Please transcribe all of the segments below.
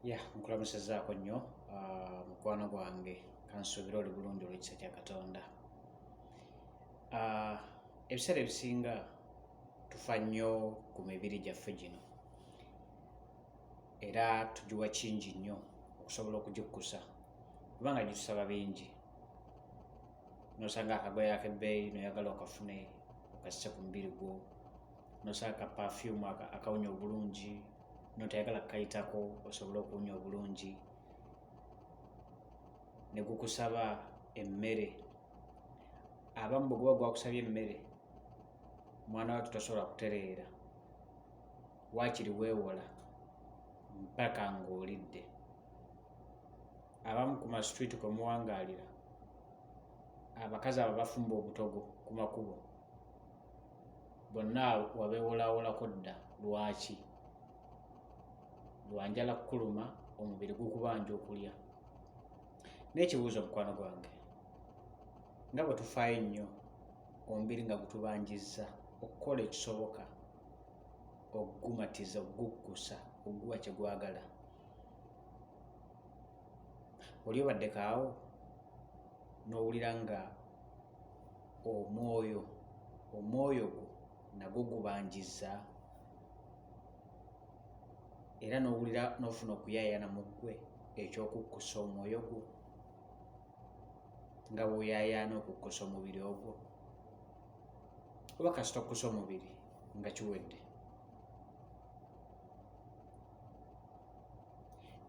ya nkulamusizaako nnyo ah, mukwano gwange kansuubira oli bulungi olwekisa kya katonda ah, ebiseera ebisinga tufa nnyo ku mibiri gyaffe gino era tugiwa kingi nnyo okusobola okugikkusa kubanga gitusaba bingi nosanga akagoya akebbeeyi noyagala okafune okasise ku mubiri gwo nosanga ka pafyumu akawunya obulungi notoyagala kukayitako osobole okuwunya obulungi ne gukusaba emmere abamu bwe guba gwakusabye emmere omwana watu tasobola kutereera waakiri weewola mpaka ng'olidde abamu ku masitwiti kwe muwangaalira abakazi abo bafumba obutogo ku makubo bonna wabewolawolako dda lwaki lwanjala kukuluma omubiri gukubanja okulya n'ekibuuzo mukwano gwange nga bwe tufaayo nnyo omubiri nga gutubanjizza okukola ekisoboka okugumatiza okuguggusa okuguwa kye gwagala oli obaddekaawo n'owulira nga omwoyo omwoyo gwo nagwo gubanjizza era n'owulira n'ofuna okuyaayana mu ggwe eky'okukkusa omwoyo gwo nga bw'oyaayaana okukkusa omubiri ogwo oba kasita okkusa omubiri nga kiwedde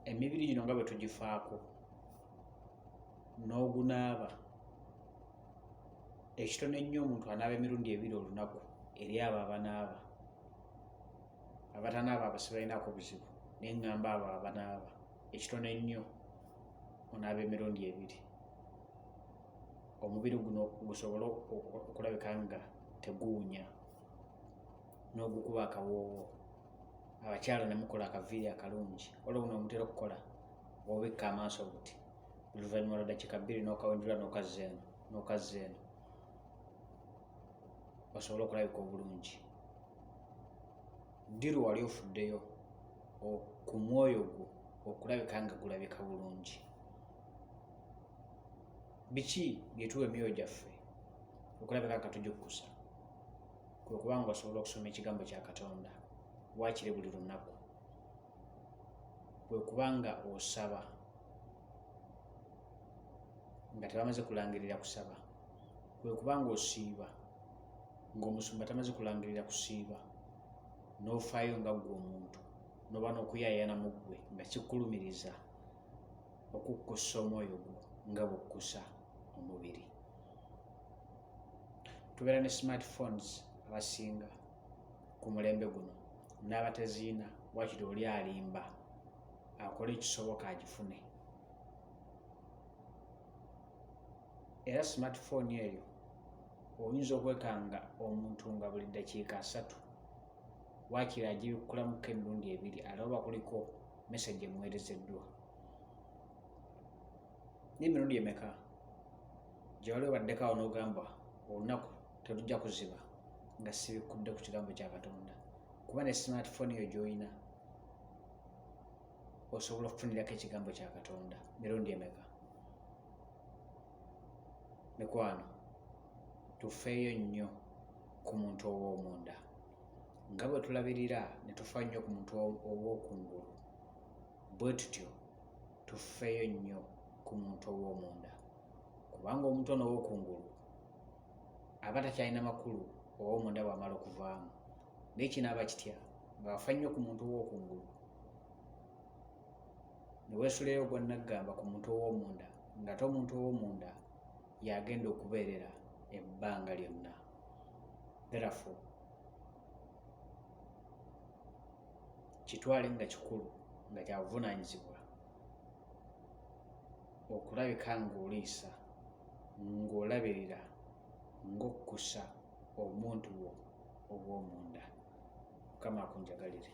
emibiri gino nga bwe tugifaako n'ogunaaba ekitono ennyo omuntu anaaba emirundi ebiri olunaku eri abo abanaaba abatanaaba abo sibalinaako buzibu naye ŋŋamba abo abanaaba ekitono ennyo onaaba emirundi ebiri omubiri guno gusobole okulabika nga teguwunya n'ogukuba akawoowo abakyala nemukola akaviiri akalungi olwo buno omutera okukola obikka amaaso buti oluvannyuma lwa dakiika bbiri n'okawendula n'okazza eno n'okazza eno basobole okulabika obulungi ddiru wali ofuddeyo ku mwoyo gwo okulabika nga gulabika bulungi biki byetuwa emyoyo gyaffe okulabika nga tujukkusa kwe kubanga osobola okusoma ekigambo kya katonda waakiri buli lunaku kwe kuba nga osaba nga tebamaze kulangirira kusaba kwe kuba nga osiiba ng'omusumba tamaze kulangirira kusiiba n'ofaayo nga ggwe omuntu noba n'okuyayana mu ggwe nga kikulumiriza okukkussa omwoyo gwo nga bukkusa omubiri tubeera ne smartphones abasinga ku mulembe guno n'abateziina wakiri oli alimba akole ekisoboka agifune era smartphone eyo oyinza okwekanga omuntu nga buli ddakiika asatu wakiri agibikkulamuko emirundi ebiri alaba kuliko mesagi emuweerezeddwa n'emirundi emeka gyewali obaddeko awo n'ogamba olunaku tetujja kuziba nga sibikkudde ku kigambo kya katonda kuba ne smartphone yo gyolina osobola okufunirako ekigambo kya katonda mirundi emeka mikwano tufeeyo nnyo ku muntu ow'omunda nga bwe tulabirira ne tufa nnyo ku muntu ow'okungulu bwe tutyo tufeeyo nnyo ku muntu ow'omunda kubanga omuntu ono ow'okungulu aba takyalina makulu oba omunda bwamala okuvaamu naye kinaaba kitya ngaafa nnyo ku muntu owokungulu neweesuleyo ogwannaggamba ku muntu owomunda ngate omuntu owomunda yagenda okubeerera ebbanga lyonna therefo kitwale nga kikulu nga kyabuvunaanyizibwa okulabika ng'oliisa ng'olabirira ng'okkusa omuntu wo ow'omunda mukama akunjagalire